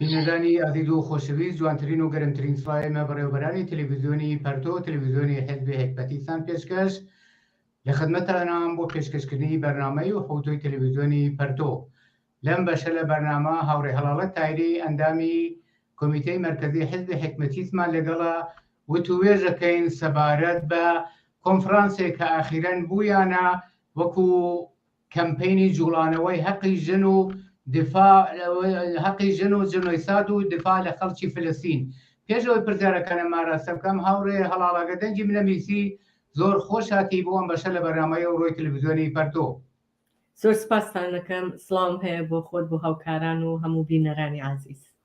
بینەرانی ئازیز و خۆشەویست جوانترین و گەرمترین سڵاوی مە بەڕێوبەرانی تەلەڤیزیۆنی پەرتۆ و تەلەڤیزیۆنی حزبی هەکبەتیستان پێشکەش لە خدمەتانام بۆ پێشکەشکردنی بەرنامەی و حوتۆی تەلەڤیزیۆنی پەرتۆ لەم بەشە لە بەرنامە هاوڕێ هەڵاڵە تایری ئەندامی کۆمیتەی مەرکزی حزبی حکمەتیسمان لەگەڵا وتوێژەکەین سەبارەت بە کۆنفرانسێک کە ئاخیرەن بوویانە وەکو کەمپەینی جوڵانەوەی هەقی ژن و دفاع هەقی ژن و جنۆیساد و دفاع لە خەڵکی فلستین پێش ئەوەی پرسیارەکانم ئاراستە بکەم هاوڕێ هەڵاڵەگە دەنگی منە میسی زۆر خۆش هاتی بۆ ئەم بەشە لە بەرنامەی ئەو ڕۆی تلویزیۆنی پەرتۆ زۆر سپاستان دەکەم سڵاوم هەیە بۆ خۆت بۆ هاوکاران و هەموو بینەرانی ئازیز.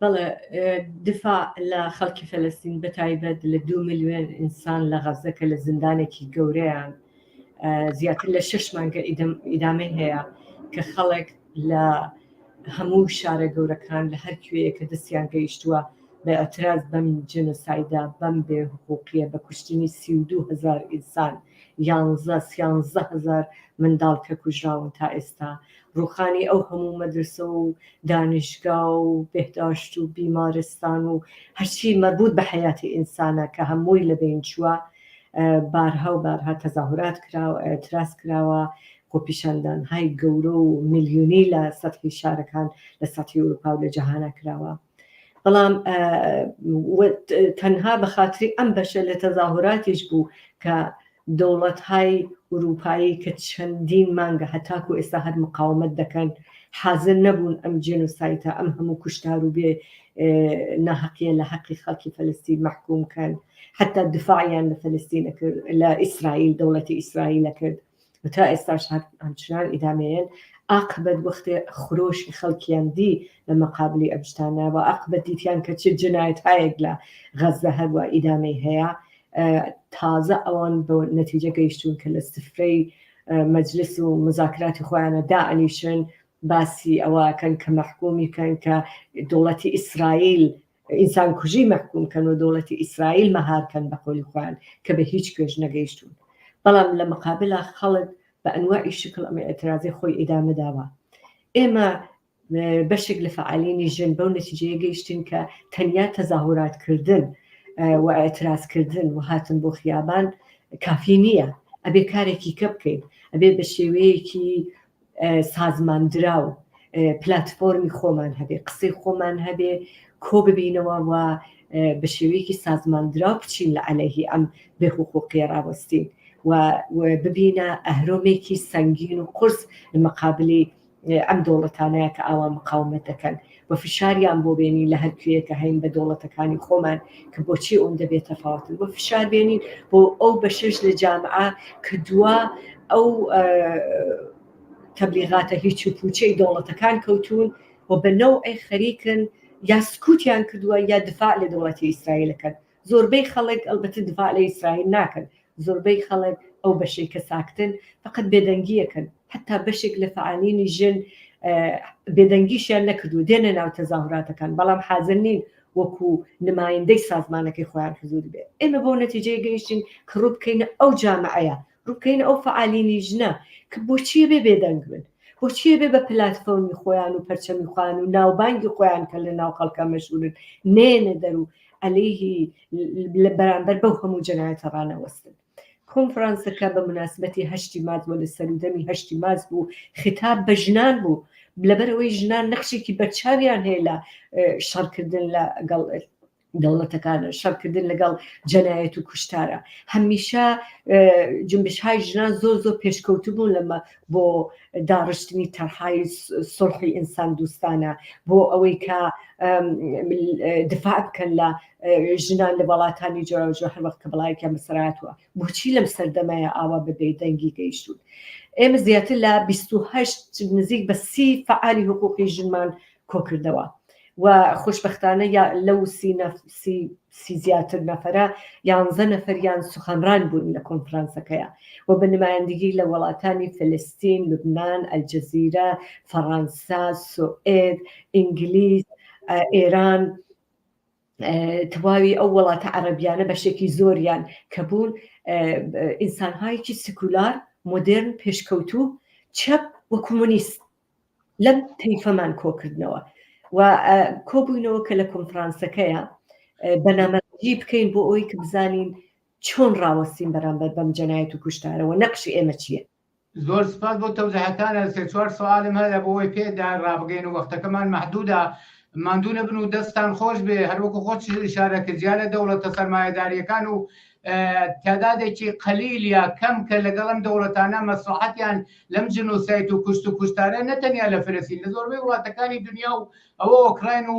بەڵێ دفاع لە خەڵکی فەلەستین بە تایبەت لە دو ملیۆن ئینسان لە غەزە کە لە زیندانێکی گەورەیان زیاتر لە شش مانگە ئیدامەی هەیە کە خەڵک لە هەموو شارە گەورەکان لە هەر کوێیە کە دەستیان گەیشتووە بە ئەتراز بەم جنسایدا بەم بێ حقوقیە بە کوشتنی سی و دوو هزار ئینسان یانزە سیانزە هزار منداڵ کە کوژراون تا ئێستا ڕوخانی ئەو هەموو مەدرسە و دانیشگا و بێهداشت و بیمارستان و هەرچی مەربوط بە حەیاتی ئینسانە کە هەمووی لە بەین چووە بارها و بارها تەزاهورات کراوە ئیعتراز کراوە خۆپیشاندان های گەورە و ملیونی لە سەتحی شارەکان لە سەتحی ئەوروپا و لە جەهانا کراوە بەڵام تەنها بە خاتری ئەم بەشە لە تەزاهوراتیش بوو کە دەوڵەتهای ئورووپایی کە چەندین مانگە هەتاکوو ئێستا هەر مقاومەت دەکەن، حازر نەبوون ئەم جێنۆسایتە، ئەم هەموو کوشتار و بێ ناهەقییە لە هەقی خەڵکی فەلەستین مەحکووم کەن. حەتتا دفاعیان لە فەلەستین ئەکرد، لە ئیسرائیل، دەوڵەتی ئیسرائیل ئەکرد و تا ئێستاش هەر هەمچنان ئیدامەیەن. ئاقبەت وەختێ خرۆشی خەڵکیان دی لە مەقابلی ئەم شتانە و ئاقبەت دیتیان کە چ جنایەتهایەک لە غەززە هەر وا ئیدامەی هەیە، تازە ئەوان بۆ نەتیجە گەیشتون کە لە سفرەی مەجلس و مزاکراتی خۆیانە دائەنیشن باسی ئەوەکەن کە مەحکومی کەن کە دەوڵەتی ئیسرائیل ئینسان کوژی مەحکوم کەن و دەوڵەتی ئیسرائیل مەهارکەن بە قۆلی خۆیان کە بە هیچ پێش نەگەیشتون بەڵام لە مقابلا خەڵک بە ئەنواعی شکل ئەمە ئەترازی خۆی ئیدامە داوە ئێمە بەشێک لە فەعالینی ژن بەو نەتیجەیە گەیشتین کە تەنیا تەزاهوراتکردن و ئاعترازکردن و هاتن بۆ خیابان کافی نییە ئەبێ کارێکی کە بکەین ئەبێ بە شێوەیەکی سازماندراو پلتفۆرمی خۆمان هەبێ قسەی خۆمان هەبێ کۆ ببینەوە و بە شێوەیەکی سازماندرا بچین لە عەلەهی ئەم بێحقوقی ڕاوەستین و ببینە ئەهرۆمێکی سەنگین و قرس لە مەقابلی ئەم دەوڵەتانەیە کە ئاوا مقاومەت دەکەن و فشاریان بۆ بێنین لە هەر کوێیە کە هەین بە دەوڵەتەکانی خۆمان کە بۆچی ئەوەندە بێ تەفاوەتن بۆ فشار بێنین بۆ ئەو بەشەش لە جامعە کە دوا ئەو تەبلیغاتە هیچ و پوچەی دەوڵەتەکان کەوتون و بە نەوعی خەریکن یا سکوتیان کردووە یا دفاع لە دەوڵەتی ئیسرائیلەکەن زۆربەی خەڵک ئەلبەتە دفاع لە ئیسرائیل ناکەن، زۆربەی خەڵک ئەو بەشەی کە ساکتن فەقەت بێدەنگییەکەن، حەتا بەشێک لە فەعالینی ژن بێدەنگیشیان نەکردووە دێنە ناو تەزاهوراتەکان بەڵام حازر نین وەکو نمایندەی سازمانەکەی خۆیان حزور بێ ئێمە بەو نەتیجەیە گەیشتین کە ڕووبکەینە ئەو جامعەیە بکەین ئەو فەعالینی ژنە کە بۆچی ئەبێ بێدەنگ بن بۆچی ئەبێ بە پلاتفۆرمی خۆیان و پەرچەمی خۆیان و ناوبانگی خۆیان کە لە ناو خەڵکە مەشهورن نێنە دەر و ئەلەیهی لە بەرامبەر بەو هەموو جەنایەتە ڕانەوەستن کۆنفرانسەکە بە مناسبەتی هەشتی مارت وە لە سەرودەمی هەشتی مارت بوو خیتاب بە ژنان بوو لەبەرەوەی ژنان نەخشێکی بەرچاویان هەیە لە شەڕکردن لەگەڵ دەوڵەتەکانە، شەڕکردن لەگەڵ جەنایەت و کوشتارە. هەمیشە جنبشهای ژنان زۆر زۆر پێشکەوتبوون لەمە بۆ داڕشتنی تەرحای سڵحی ئینسان دوستانە بۆ ئەوەی کە دفاع بکەن لە ژنان لە وڵاتانی جۆراوجۆ هەر وەخت کە بڵایەکیان بەسەرهاتووە. بۆچی لەم سەردەمەیا ئاوا بە بێ دەنگی گەیشتوون؟ ئێمە زیاتر لە بیست و هەشت نزیک بە سی فەعالی حقوقی ژنمان کۆکردەوە و خۆشبەختانە یا لەو سی نە سی سی زیاتر نەفەرە یانزە نەفەریان سوخانران بوون لە کۆنفرانسەکەیە و بە نمایندگی لە وەڵاتانی فلستین، لوبنان، ئەلجەزیرە، فەڕانسا، سوئێد، ئینگلیز، ئێران، تەواوی ئەو وڵاتە عەڕەبیانە بەشێکی زۆریان کە بوون ئینسانهایکی سکولار مۆدررن پێشکەوتو چەپ وە کۆمۆنیست لەم تەیفەمان کۆکردنەوە و کۆبووینەوە کە لە کۆنفرانسەکەیە بەنامەجی بکەین بۆ ئەوی کە بزانین چۆن ڕاوەستین بەرامبەر بەم جەنایەت و کوشتارەوە نەقشی ئێمە چییە زۆر سپاس بۆ تەوزیحەکانە سێ چوار سوالم هەیە بۆ ئەوەی پێدا ڕابگەین و وەختەکەمان مەحدوودە ماندوو نەبن و دەستان خۆش بێ هەروەکو خۆش شارە کە جیا لە دەوڵەتە سەرمایەداریەکان و تعدادێکی قەلیل یا کەم کە لەگەڵ ئەم دەوڵەتانە مەسلحەتیان لەم جنۆسایت و کوشت و کوشتارە نەتەنیا لە فلسین لە زۆربەی وڵاتەکانی دنیا و ئەوە ئۆکراین و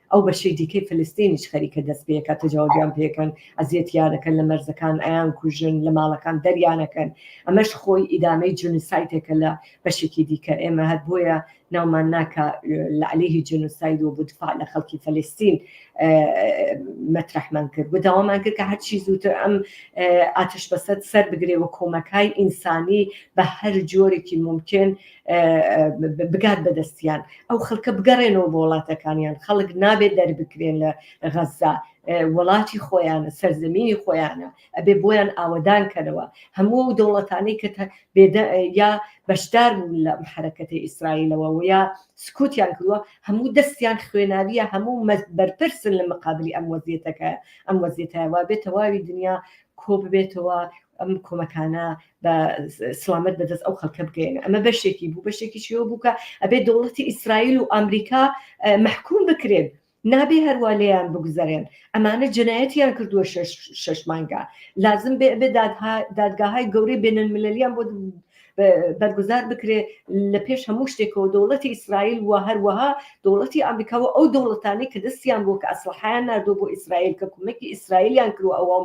ئەو بەشەی دیکەی فلستینیش خەریکە دەست پێکە تەجاوزیان پێکەن ئەزیەتیانەکەن لە مەرزەکان ئەیان کوژن لە ماڵەکان دەریانەکەن ئەمەش خۆی ئیدامەی جنسایتێکە لە بەشێکی دیکە ئێمە هەر بۆیە ناومان ناکە لە عليهی جنساید و بودفاع لە خەڵکی فلستین مەترحمان کرد بەداوامان کرد کە هەرچی زووتر ئەم ئاتش بەسەد سەر بگرێ و کۆمەکای ئینسانی بە هەر جۆرێکی ممکن بگات بەدەستیان ئەو خەڵکە بگەڕێنەوە بۆ وڵاتەکانیان خەڵک نابێت دەربکرێن لە غەززا وڵاتی خۆیانە سەرزەمینی خۆیانە ئەبێ بۆیان ئاوەدان کەرەوە هەموو و دەوڵەتانی کە یا بەشدار بوون لە حرەکەتی ئیسرائیلەوە و یا سکوتیان کردووە هەموو دەستیان خوێناویە هەموو بەرپرسن لە مقابلی ئەم وەزیێتەکە ئەم وەزیێتایوا بێت تەواوی دنیا کۆ ببێتەوە ئەم کۆمەکانە بە سلامەت بەدەست ئەو خەڵکە بگەێن ئەمە بەشێکی بوو بەشێکی چیەوە بووکە ئەبێ دەوڵەتی ئیسرائیل و ئەمریکا محکوم بکرێن نابێ هەروە لێیان بگوزارێن ئەمانە جنایەتیان کردووە شش مانگا لازم بێ بێ دادگاهای گەورەی بێنن مللیان بۆ بەرگوزار بکرێ لە پێش هەموو شتێکەوە دەوڵەتی ئیسرائیل و هەروەها دەوڵەتی ئەمریکاوە ئەو دەوڵەتانی کە دەستیان بۆ کە ئەسلحیان نردوو بۆ ئیسرائیل کە کومەکی ئیسرائیلیان کرو ئەوە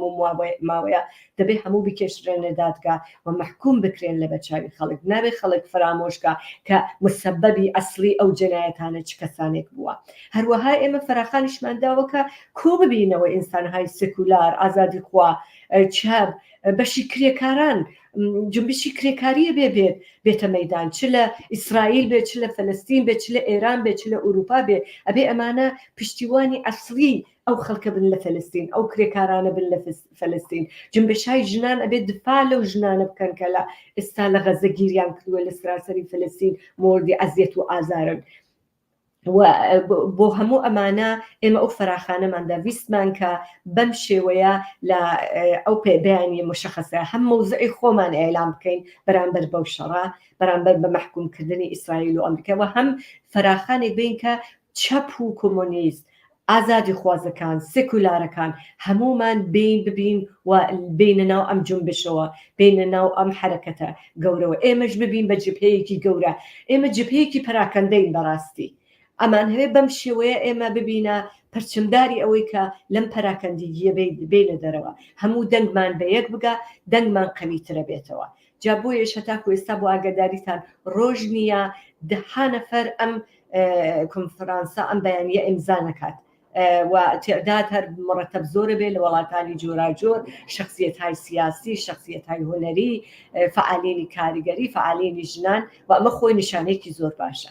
ماوەیە دەبێت هەموو بکێشرێنە دادگا و مەحکوم بکرێن لە بەرچاوی خەڵک نابێت خەڵک فرامۆشکە کە مسەبەبی ئەسلی ئەو جەنایەتانە چ کەسانێک بووە هەروەها ئێمە فراخانیشمان داوەکە کۆ ببینەوە ئینسانهای سکولار ئازادی خوا چاب بەشی کرێکاران جنبشی کرێکاریە بێ بێت بێتە مەدان چ لە ئیسرائیل بێت چ لە فلستین بێت چ لە ئێران بێت چ لە ئوروپا بێ ئەبێ ئەمانە پشتیوانی ئەسلی ئەو خەڵکە بن لە فلستین ئەو کرێکارانە بن لە فلستین جنبشای ژنان ئەبێ دفاع لەو ژنانە بکەن کە لە ئێستا لە غەزە گیریان کردووە لە سراسەری فلستین مۆردی ئەزیەت و ئازارن بۆ هەموو ئەمانە ئێمە ئەو فەراخانەمان دەویستمان کە بەم شێوەیە لە ئەو پێدانی مشخصە هەم مەوزعی خۆمان ئێلام بکەین بەرامبەر بەو شەڕە بەرامبەر بە مەحکومکردنی ئیسرائیل و ئەمریکا و هەم فەراخانێک بین کە چەپ و کۆمۆنیست ئازادیخوازەکان، سیکولارەکان هەموومان بێین ببین و بێینە ناو ئەم جونبشەوە، بێینە ناو ئەم حەرەکەتە گەورەوە، ئێمەش ببین بە جبهەیەکی گەورە، ئێمە جبهەیەکی پەراکەندەین بەڕاستی، ئەمانهەوێ بەم شێوەیە ئێمە ببینە پرچمداری ئەوەی کە لەم پەراکەندگییە بێینە دەرەوە، هەموو دەنگمان بە یەک بگا، دەنگمان قەویترە بێتەوە، جا بۆیەش هەتاکو ئێستا بۆ ئاگاداریتان ڕۆژ نییە دەها نەفەر ئەم کۆنفرانسە ئەم بەیانە ئیمزا نەکات و تعداد هەر مڕەتەب زۆرە بێ لە وڵاتانی جۆراجۆر شخصیت های سیاسی شخصیت های هونەری فعالینی کاریگەری فعالینی ژنان و ئەمە خۆی نیشانەیەکی زۆر باشە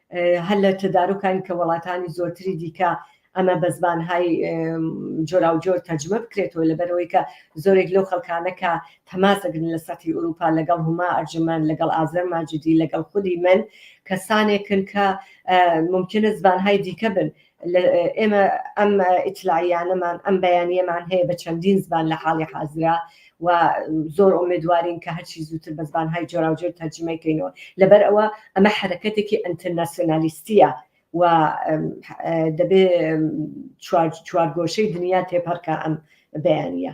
هەر لە تەدارکاین کە وەڵاتانی زۆرتری دیکە ئەمە بە زبانهای جۆراوجۆر تەرجمە بکرێتەوە لەبەرەوەی کە زۆرێک لەو خەڵکانە کە تەماس دەگرن لە سەتی ئوروپا لەگەڵ هوما ئەرجمەند لەگەڵ ئازەر ماجدی لەگەڵ خودی من کەسانێکن کە ممکنە زبانهای دیکە بن ئێمە ئەم ئیتلاعیانەمان ئەم بەیانیەمان هەیە بە چەندین زبان لە حاڵی حازرا و زۆر ئۆمێدوارین کە هەرچی زووتر بە زبان های جۆراوجۆر تەرجیمەکەینەوە لەبەر ئەوە ئەمە حرەکەتێکی ئەتەرناسیۆنالیستیە و دەبێ چوارگۆشەی دنیا تێپەڕکە ئەم بەیانە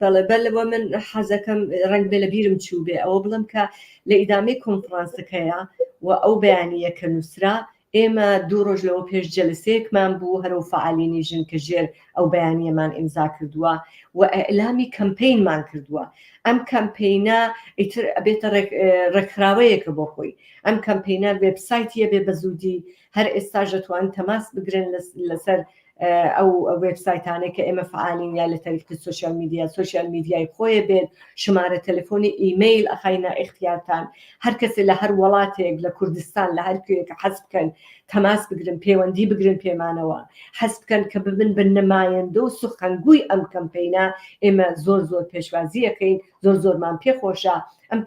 بەڵێ بەلە وە من حەزەکەم ڕەنگ بێ لە بیرم چوو بێ ئەوە بڵم کە لە ئیدامەی کۆنفرانسەکەیە و ئەو بەیانیە کە نووسرا ئێمە دوو ڕۆژ لەوە پێش جەلسەیەکمان بوو هەرو فعالینی ژن کە ژێر ئەو بەیانیەمان ئیمزا کردووە و ئەلامی کەمپینمان کردووە ئەم کەمپینە ئیتر ئەبێتە ڕێکخراوەیەکە بۆ خۆی ئەم کەمپینە وبسایتە بێ بە زودی هەر ئێستا ژەتوان تەماس بگرن لەسەر ئەو وێبسایتانەی کە ئێمە فعالین یا لە تەریقی سوسیال میدیا سوسیال میدیای خۆیە بێت شمارە تەلەفۆنی ئیمەیل ئەخینا ئختیارتان هەر کەسێ لە هەر وڵاتێک لە کوردستان لە هەر کوێکە حەز بکەن تەماس بگرن پەیوەندی بگرن پێمانەوە حەز بکەن کە ببن بە نمایندە و سخنگوی ئەم کەمپینە ئێمە زۆر زۆر پێشوازیەکەین زۆر زۆرمان پێ خۆشە ئەم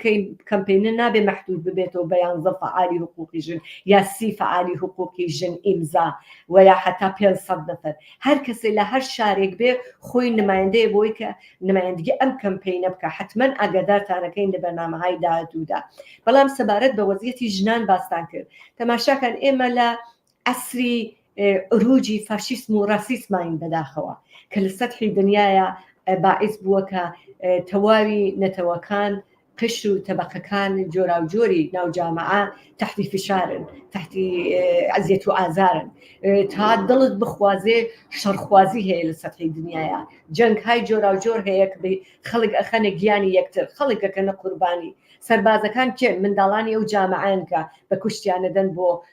کەمپینە نابێ مەحدود ببێتەوە بە یانزە فەعالی حقوقی ژن یا سی فەعالی حقوقی ژن ئیمزا و یا حتا پێ سەد نەفەر هەر کەسێ لە هەر شارێک بێ خۆی نمایندەیە بۆی کە نمایندگی ئەم کەمپینە بکە حتمما ئاگادارتانەکەین لە بەرنامەهای داهاتوودا بەڵام سەبارەت بە وەزیەتی ژنان باستان کرد تەماشاکان ئێمە لە عەسری عروجی فاشیسم و راسیسماین بەداخەوە کە لە سەتحی دنیایا باعس بووە کە تەواوی نەتەوەکان قشر و تەبەقەکان جۆراوجۆری ناو جامعە تحتی فشارن تحتی عزیەت و ئازارن تا دڵت بخوازێ شەڕخوازی هەیە لە سەتحی دنیایا جەنگ های جۆراوجۆر هەیە کە خەڵک ئەخەنە گیانی یەکتر خەڵکەکەنە قوربانی سربازەکان کێن منداڵانی ئەو جامعەن کە بە کوشتیانەدەن بۆ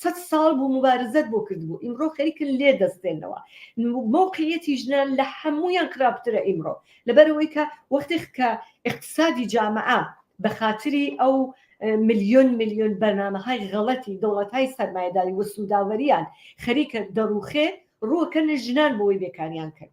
سەد ساڵ بوو موبارزەت بۆ کردبوو ئیمڕۆ خەریکن لێ دەستێنەوە مەوقعیەتی ژنان لە هەموویان خراپترە ئیمڕۆ لەبەرەوەی کە وەختێک کە اقتصادی جامعە بە خااتری ئەو ملیۆن ملیۆن بەرنمەهای غەڵەتی دەوڵەتهای سەرمایداری وە سووداوەریان خەریکە دەڕوخێ ڕووەکەن ژنان بۆی بێکاریان کرد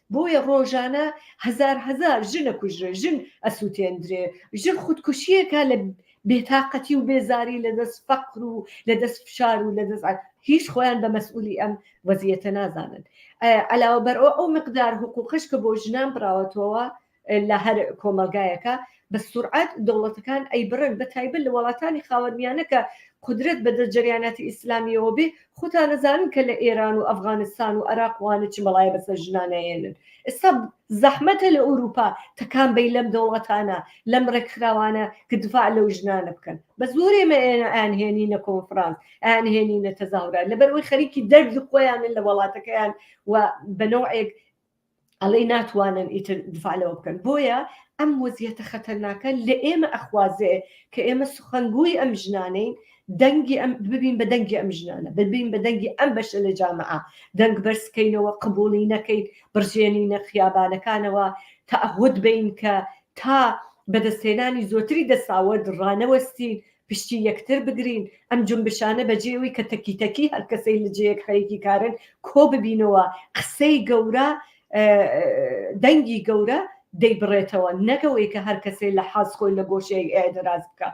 بۆیە ڕۆژانە هەزار هەزار ژن ئەکوژرێ، ژن ئەسوتێندرێ، ژن خودکوشیەکا لە بێتاقەتی و بێزاری لە دەست فەقر و لە دەست فشار و لە دەست هیچ خۆیان بە مەسئولی ئەم وەزیەتە نازانن عەلاوە بەرئەوە ئەو مقدار حقوقەش کە بۆ ژنان بڕاوەتەوە لە هەر کۆمەڵگایەکا بە سورعەت دەوڵەتەکان ئەیبڕن بە تایبەت لە وەڵاتانی خاوەرمیانە کە قودرەت بە دەست جەریاناتی ئیسلامیەوە بێ خوتان ئەزانن کە لە ئێران و ئەفغانستان و ئەراق وانە چ بەڵایە بە سەر ژنان ئەهێنن ئێستا زەحمەتە لە ئوروپا تەکان بەی لەم دەوڵەتانە لەم ڕێکخراوانە کە دفاع لەو ژنانە بکەن بە زۆرێ مە ئێنە ئەیانهێنینە کۆنفرانس ئەیانهێنینە تەزاهورات لەبەر ئەوەی خەریکی دەرد خۆیانن لە وەڵاتەکەیان و بە نەوعێک ئەڵێی ناتوانن ئیتر دفاع لەوە بکەن بۆیە ئەم وەزیەتە خەتەرناکە لە ئێمە ئەخوازێ کە ئێمە سخنگوی ئەم ژنانەین دەنگی ئەم ببین بە دەنگی ئەم ژنانە ببین بە دەنگی ئەم بەشە لە جامعە دەنگ بەرزکەینەوە قبولی نەکەیت بڕژێنینە خیابانەکانەوە تەعهود بین کە تا بەدەستهێنانی زۆتری دەساوەرد ڕانەوەستین پشتی یەکتر بگرین ئەم جومبشانە بەجێ ئەوی کە تەکی تەکی هەر کەسەی لە جێیەک خەریکی کارن کۆ ببینەوە قسەی گەورە دەنگی گەورە دەیبڕێتەوە نەکەوەی کە هەر کەسەی لە حاز خۆی لە گۆشەیەک ئێدراز بکە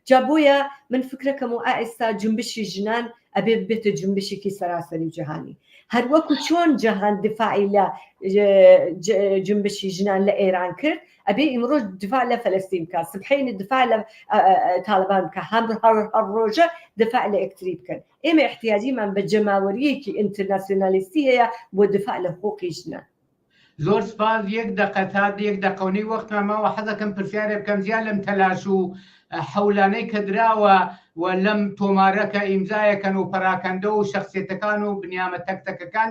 جا بۆیە من فکرەکەم و ئائستا جنبشی ژنان ئەبێ بێتە جنبشێکی سەراسەری جیهانی هەروەکو چۆن جەهان دفاعی لە جنبشی ژنان لە ئێران کرد ئەبێ ئیمڕۆ دفاع لە فەلەستین بکە سبحەینە دفاع لە تاالبان بکە هەم ڕۆژە دفاع لە ئەکتری بکەن ئێمە احتیاجیمان بە جەماوەریەکی ئینتەرناسیۆنالیستی هەیە بۆ دفاع لە حقوقی ژنە زۆر سپاس یەک دەقە تا یەک دەقەونەی وەختمان ماوە حەزەکەم پرسیارێ بکەم زیاد لەم تەلاش و حەولانەی کە دراوە و لەم تۆمارەکە ئیمزایەکەن و پەراکەندە و شخصێتەکان و بنیامە تەکتەکەکان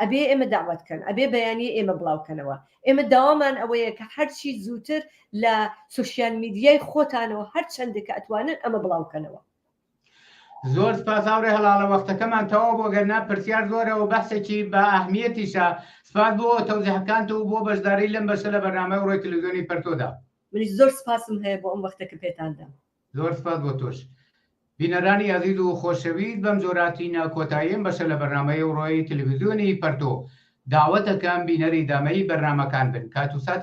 ئەبێ ئێمە دەعوەت کەن ئەبێ بەیانیە ئێمە بڵاو کەنەوە ئێمە داوامان ئەوەیە کە هەرچی زووتر لە سوسیال میدیای خۆتانەوە هەر چەندە کە ئەتوانن ئەمە بڵاو کەنەوە. زۆر سپاس هاوڕێ هەڵاڵە وەختەکەمان تەواو بووە گەرنا پرسیار زۆرە و بەحسێکی بە ئەهمیەتیشە سپاس بۆ تەوزیحەکانت و بۆ بەشداری لەم بەشە لە بەرنامەی ڕۆی تلویزیۆنی پەرتۆدا منیش زۆر سپاسم هەیە بۆ ئەم وەختە کە پێتان دام. زۆر سپاس بۆ تۆش. بینەرانی ئازیز و خۆشەویست بەم جۆرە تینە کۆتایی ئەم بەشە لە بەرنامەی ئەوڕۆی تەلەفزیۆنی پەرتۆ. داوەتەکەم بینەری دامەی بەرنامەکان بن کات و ساتی